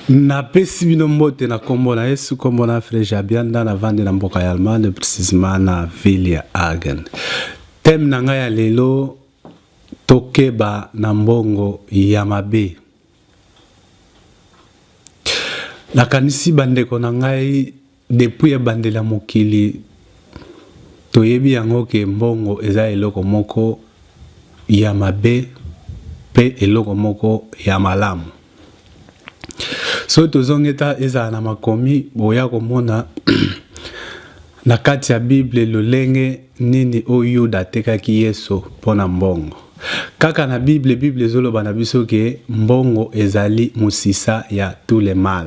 napesi bino mbote na nkombo na yesu nkombo na freje abianda navandi na mboka ya allemagne precisement na ville ya agen teme na ngai ya lelo tokeba na mbongo ya mabe Nakanisi bandeko na ngai depuis ebandeli ya mokili toyebi yango ke mbongo eza eloko moko ya mabe pe eloko moko ya malamu soki tozongi ezala na makomi boya komona Na kati ya Bible, lolenge nini oyo Yuda atekaki Yesu mpo na mbongo? Kaka na Bible, Bible ezoloba na biso ke mbongo ezali mosisa ya tout le mal.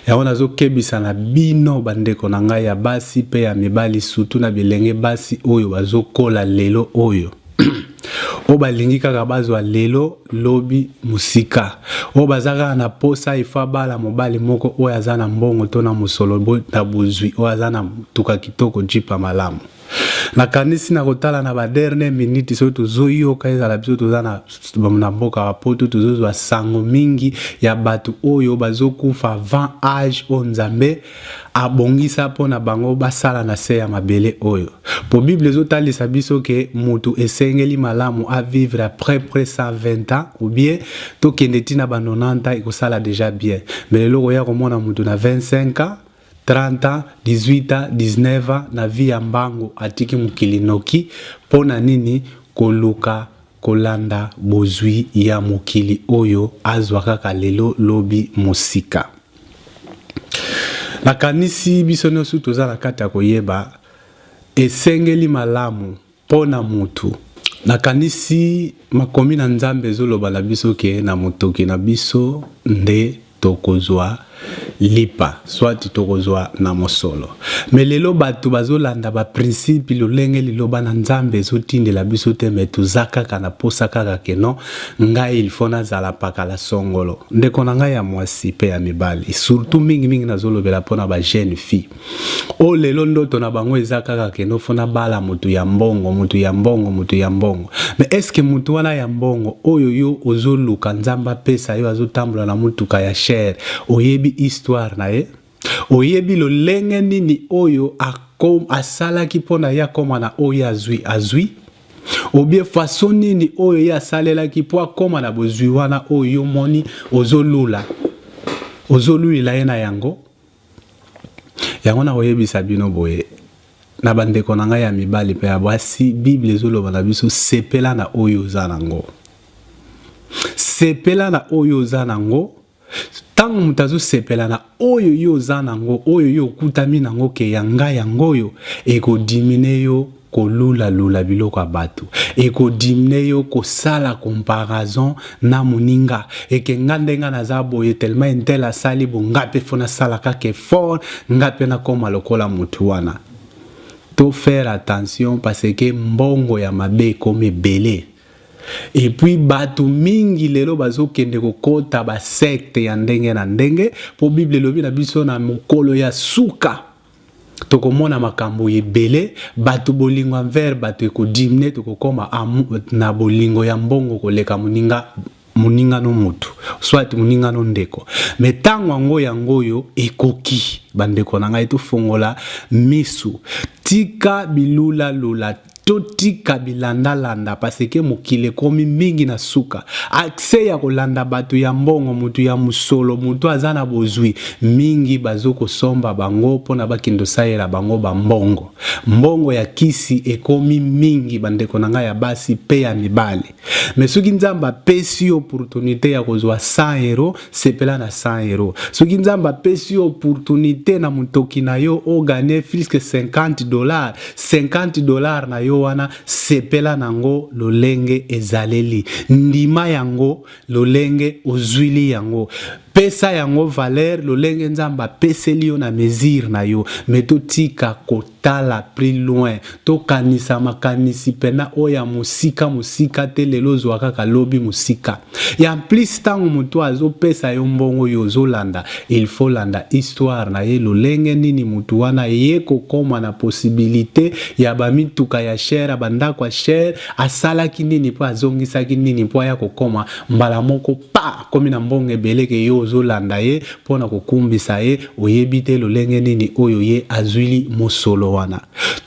Yango nazokebisa na bino bandeko na ngai ya basi mpe ya mibali, sutu na bilenge basi oyo bazokola lelo oyo. oyo balingi kaka bazwa lelo lobi mosika oyo baza kaka na posa ifo abala mobali moko oyo aza na mbongo to na mosolo na bozwi oyo aza na motuka kitoko jipa malamu nakanisi na kotala na baderne minute soki tozoyoka ezala biso toza na, na mboka ya poto tozozwa sango mingi ya bato oyo bazokufa avant age oyo nzambe Abongisa mpo na bango basala na se ya mabele oyo. Mpo Bible ezotalisa biso ke mutu esengeli malamu a vivre à près près 120 ans ou bien tokende ti na ba 90 ans ekosala dejà bien. Mais lelo okoya komona mutu na 25 ans, 30 ans, 18 ans, 19 ans na vie ya mbangu atiki mokili noki mpo na nini? Koluka Kolanda bozwi ya mokili oyo azwa kaka lelo lobi mosika. Nakanisi biso niosu toza na kati ya koyeba esengeli malamu po na mutu. Nakanisi makomi na Nzambe ezoloba na biso ke na motoki na biso nde. tokozua lipa soit tokozua na mosolo mais lelo batu bazolanda ba principe lolenge liloba na nzambe ezotindela biso te mais toza kaka na posa kaka que non ngai il faut nazala pakala songolo ndeko na ngai ya muasi pe ya mibali surtout mingi mingi nazolobela pona ba jeune fille Oyo lelo ndoto na bango eza kaka kende ofuna bala mutu ya mbongo, mutu ya mbongo, mutu ya mbongo. Mais est-ce que mutu wana ya mbongo oyo yo ozoluka Nzambe apesa yo azotambola na mutuka ya cher, oyebi histoire na ye? Oyebi lolenge nini oyo asalaki mpo na ye akoma na oyo azwi azwi? obie faso nini oyo ye asalelaki mpo akoma na bozwi wana oyo yo omoni ozolula ozolulela ye na yango Yango nakoyebisa bino boye, na bandeko na ngai ya mibali mpe ya basi, Biblia ezoloba na biso sepela na oyo oza na yango. Sepela na oyo oza na yango. Ntango moto azosepela na oyo yo oza na yango, oyo yo okutami na yango, ke ya ngai yango oyo ekodimine yo kolula lula biloko ya batu et ko dimne yo kosala comparaison na muninga et que nga nde nga naza boye tellement un tel asali bon nga pe faut nasala kaka effort nga pe nakoma lokola mutu wana to faire attention parce que mbongo ya mabe ekomi ebele et puis batu mingi lelo bazokende kokota ba secte ya ndenge na ndenge po bible elobi na biso na mokolo ya suka tokomona makambo ebele bato bolingo envers bato ekodimine tokokoma na bolingo ya mbongo koleka moninga moningano motu soit moningano ndeko me ntango yango yango oyo ekoki bandeko na ngai tofongola misu tika bilulalula Totika bilanda landa parce que mokili ekomi mingi na suka. Accès ya kolanda bato ya mbongo, mutu ya musolo, mutu aza na bozwi, mingi bazo kosomba bango pona bakende osalela bango ba mbongo. Mbongo ya kisi ekomi mingi bandeko na nga ya basi pe ya mibali. mais soki nzambe apesi yo opportunité ya kozwa 100 euro sepela na 100 euro soki nzambe apesi yo opportunité na motoki na yo ogane friske 50 dollar 50 dollar na yo wana sepela nango lolenge ezaleli ndima yango lolenge ozwili yango pesa yango valeur lolenge nzambe apeseli yo na mesure na yo me totika ko Tala plus loin. To kanisa makanisi pena oyo ya mosika mosika te lelo ozua kaka lobi mosika. Et en plus tango moto oyo azo pesa yo mbongo yo ozo landa il faut olanda histoire na ye lolenge nini moto wana aye ko koma na possibilite ya ba mituka ya cher ya ba ndako ya cher asalaki nini pe azongisaki nini po aya ko koma mbala moko pa akomi na mbongo ebele ke yo ozo landa ye pona ko kumbisa ye Oyebi te lolenge nini oyo ye azuili mosolo wana.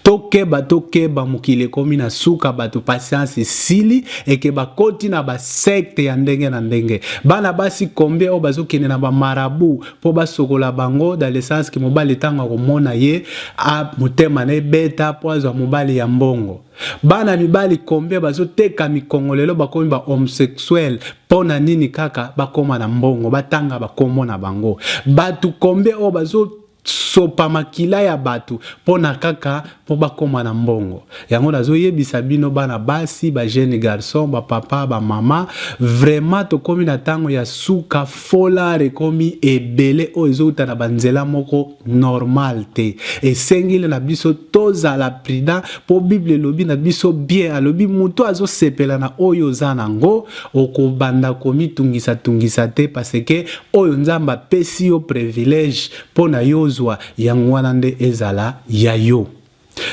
Tokeba tokeba mokili ekomi na suka bato patience esili eke bakoti na ba secte ya ndenge na ndenge. Bana basi combien oyo bazokende na ba marabout po basokola bango dans le sens que mobali tango akomona ye a motema na ye ebeta po azwa mobali ya mbongo. Bana mibali combien bazo teka mikongo lelo bakomi ba homsexuel pona nini kaka bakoma na mbongo batanga ba kombo na bango batu combien oyo bazo sopa makila ya batu pona kaka po bakoma na mbongo yango nazo yebisa bino bana basi ba jeune garçon ba papa ba mama vraiment tokomi na tango ya suka fola rekomi ebele oyo ezouta na banzela moko normal te esengeli na biso tozala prudent mpo bible elobi na biso bien alobi moto azosepela na oyo oza na yango okobanda komitungisatungisa te paseke oyo nzambe apesi yo privilege mpo na yo ozwa yango wana nde ezala ya yo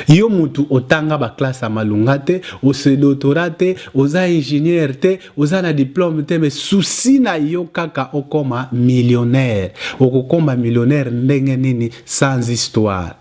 Yo mutu otanga ba classe ya malonga te, o se dotora te, oza ingenieur te, oza na diplome te mais souci na yo kaka okoma millionnaire. Okokoma millionnaire ndenge nini sans histoire?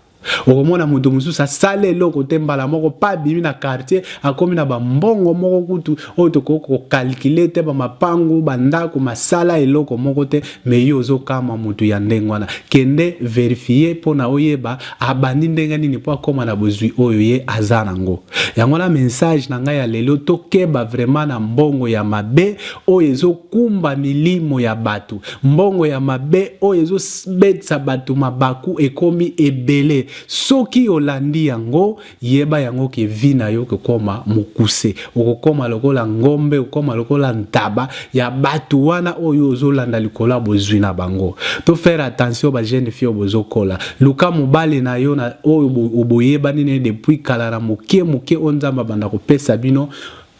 Okomona moto mosusu asali eloko te mbala moko pa abimi na quartier akomi na bambongo moko kutu oyo tokoki kokalkile te bamapangu bandako masala eloko moko te me yo ozokamwa moto ya ndenge wana kende verifie mpo na oyeba abandi ndenge nini mpo akoma na bozwi oyo ye aza nango. Yango wana message na ngai ya lelo, tokeba vraiment na mbongo ya mabe oyo ezokumba milimo ya bato, mbongo ya mabe oyo ezobetisa bato mabaku ekomi ebele. Soki olandi yango, Yeba yango que vie na yo okokoma mokuse, okokoma lokola ngombe, okokoma lokola ntaba ya batu wana oyo ozo landa likolo ya bozui na bango. To faire attention ba jeunes filles oyo bozo kola. Luka mobali na yo na oyo boyebani na ye depuis kala na moke moke oyo Nzambe abanda kopesa bino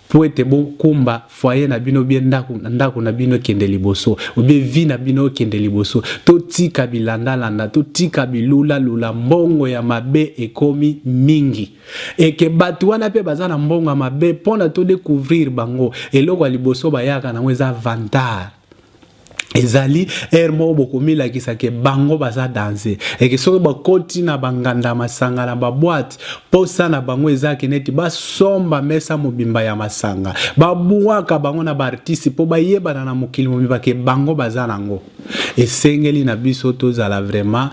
Mpo ete bokumba foyer na bino bien ndaku na ndaku na bino ekende liboso ou bien vie na bino ekende liboso totika bilanda landa totika bilula lula mbongo ya mabe ekomi mingi et que batu wana pe baza na mbongo ya mabe pona to decouvrir bango eloko ya liboso bayaka nango eza vantard ezali ere moko bokomilakisa ke bango baza danse eke soki bakoti na banganda masanga na babwate mposa na bango eza ke neti basomba mesa mobimba ya masanga babwaka bango na baartiste mpo bayebana na mokili mobimba ke bango baza nango esengeli na biso tozala vraiment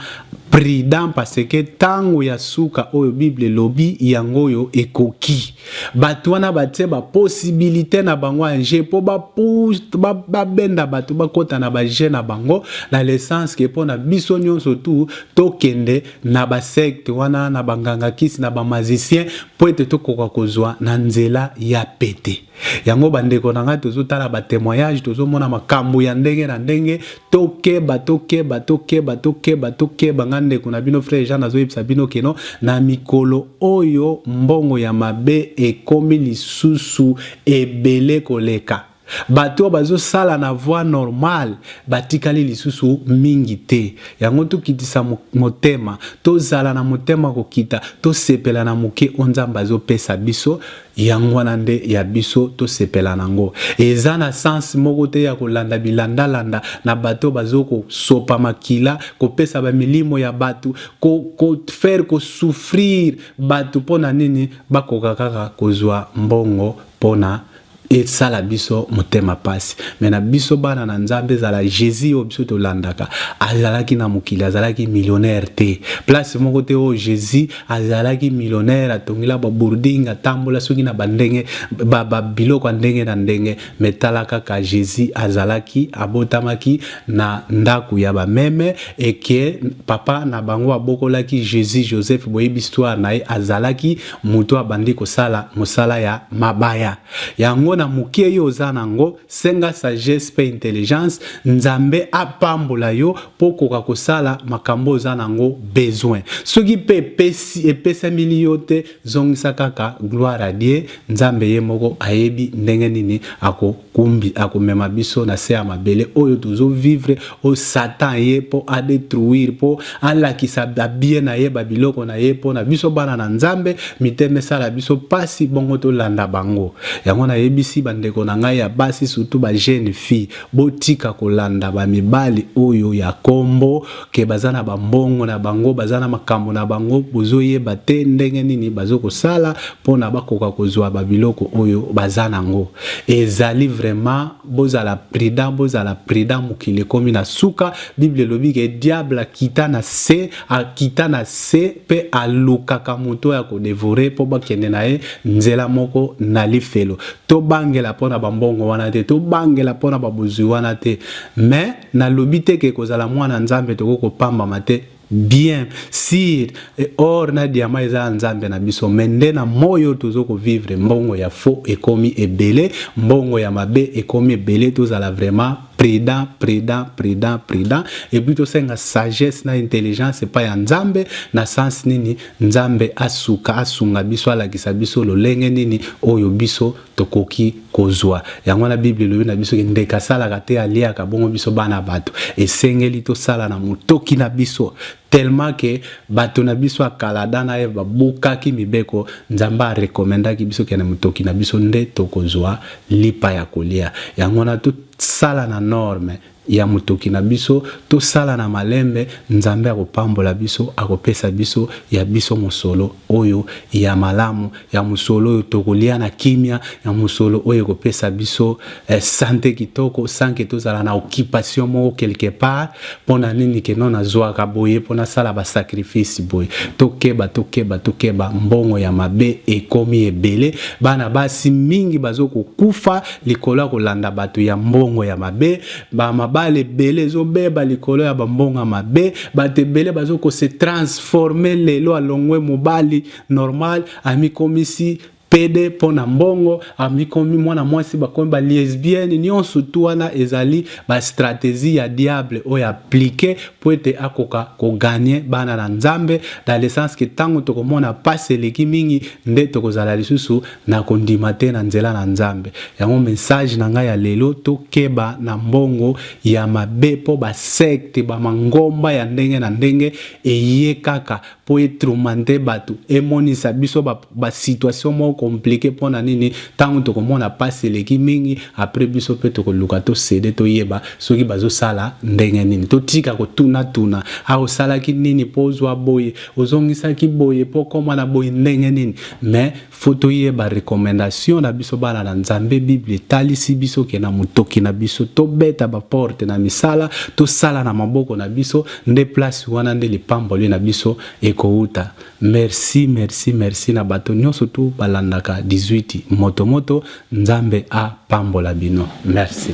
prudent parce que ntango ya suka oyo bible elobi yango oyo ekoki Bato wana batie ba possibilite na bango en jeu mpo babenda ba, ba bato bakota na bajeu na bango na lesence ke mpo na biso nyonso tu tokende na basecte wana na banganga kisi na bamazicien mpo ete tokoka kozwa na nzela ya pete. Yango bandeko na ngai tozotala batemoignage tozomona makambo ya ndenge na ndenge Tokeba, tokeba, tokeba, tokeba, tokeba nga ndeko na bino frère Jean nazo yebisa bino que non na mikolo oyo mbongo ya mabe ekomi lisusu ebele koleka. Bato oyo bazo sala na voie normale batikali lisusu mingi te. Yango tokitisa motema, tozala na motema kokita, tosepela na moke oyo Nzambe azo pesa biso Yango wana nde ya biso tosepela na ngo. Eza na sens moko te ya kolanda bilanda landa na bato bazo ko sopa makila, kopesa ba milimo ya batu, ko ko faire ko souffrir batu pona nini bakoka kaka kozua mbongo pona esala biso motema pasi. Mais na biso bana na Nzambe ezala Jesus oyo biso tolandaka azalaki na mokili azalaki millionnaire te. Place moko te oyo Jesus Azalaki millionaire, atongela ba bourding, atambola soki na ba ndenge ba, ba biloko ya ndenge na ndenge, mais tala kaka Jesus azalaki abotamaki na ndaku ya ba meme et que papa na bango abokolaki Jesus Joseph boyebi histoire na ye azalaki mutu abandi kosala musala ya mabaya yango na muke yo oza na ngo Senga sagesse pe intelligence nzambe apambola yo po okoka kosala makambo oza nango besoin soki pe epesi epesamili yo te zongisa kaka gloire à Dieu nzambe ye moko ayebi ndenge nini ako kumbi akomema biso na se ya mabele oyo tozo vivre oyo satan ye mpo adetruire mpo alakisa babie na ye babiloko na ye mpo na biso bana na nzambe mitema esala biso mpasi bongo tolanda bango yango nayebisi bandeko na ngai ya basi surtout ba jeune fille botika kolanda bamibali oyo ya kombo ke baza na bambongo na bango baza na makambo na bango bozoyeba te ndenge nini bazo kosala mpo na bakoka kozwa babiloko oyo baza nango ezali vraiment Bozala prudent, bozala prudent, mokili ekomi na suka. Bible elobi ke diable akita na se, akita na se pe alukaka moto ya ko devorer po bakende na ye nzela moko na lifelo. Tobangela pona ba mbongo wana te, tobangela pona ba bozwi wana te. Mais nalobi te ke kozala mwana Nzambe tokoki kopambama te. Bien sir et or na diamant eza ya nzambe na biso mais nde na moi oyo tozo ko vivre mbongo ya faux ekomi ebele mbongo ya mabe ekomi ebele tozala vraiment prudent prudent prudent prudent et puis tosenga sagesse na intelligence epai ya nzambe na sens nini nzambe asuka asunga biso alakisa biso lolenge nini oyo biso tokoki kozua yango wana bible elobi na biso ke ndeke asalaka te aliaka bongo biso bana bato esengeli tosala na motoki na biso tellement ke bato na biso ya kala adam na eve babukaki mibeko nzambe arekomendaki biso ke na motoki na biso nde tokozua lipa ya kolia yango wana tosala na norme ya motoki na biso tosala na malembe nzambe akopambola biso akopesa biso ya biso mosolo oyo ya malamu ya mosolo oyo tokolia na kimia ya mosolo oyo ekopesa biso eh, sante kitoko sanke tozala na occupation moko quelque part mpona nini keno nazwaka boye mpo nasala basacrifice boye tokeba tokeba tokeba mbongo ya mabe ekomi ebele bana basi mingi bazokokufa Likolo ya kolanda bato ya mbongo ya mabe, ba mabala ebele ezobeba likolo ya ba mbongo ya mabe, bato ebele bazo ko se transformer lelo alongwe mobali normal amikomisi pede mpo na mbongo amikomi mwana mwasi bakomi ba lesbienne nyonso tu wana ezali ba strategie ya diable oyo aplike mpo ete akoka koganye bana na nzambe dans le sens ke ntango tokomona mpasi eleki mingi nde tokozala lisusu Na kondima te na nzela na Nzambe. Yango message na nga ya lelo to keba na mbongo ya mabe po ba secte ba mangomba ya ndenge na ndenge eye kaka po e tromante batu e monisa biso ba ba situation moko complique pona nini tango toko mona pasi eleki mingi apres biso pe toko luka to cede to yeba soki bazo sala ndenge nini to tika ko tuna tuna ah osalaki nini po ozua boye ozongisaki boye po okoma na boye ndenge nini mais faut toyeba recommendation na biso bana na nzambe bible etalisi biso ke na motoki na biso tobeta baporte na misala tosala na maboko na biso nde place wana nde lipamboli na biso ekouta merci merci merci na bato nyonso tu balandaka 18 motomoto nzambe apambola bino merci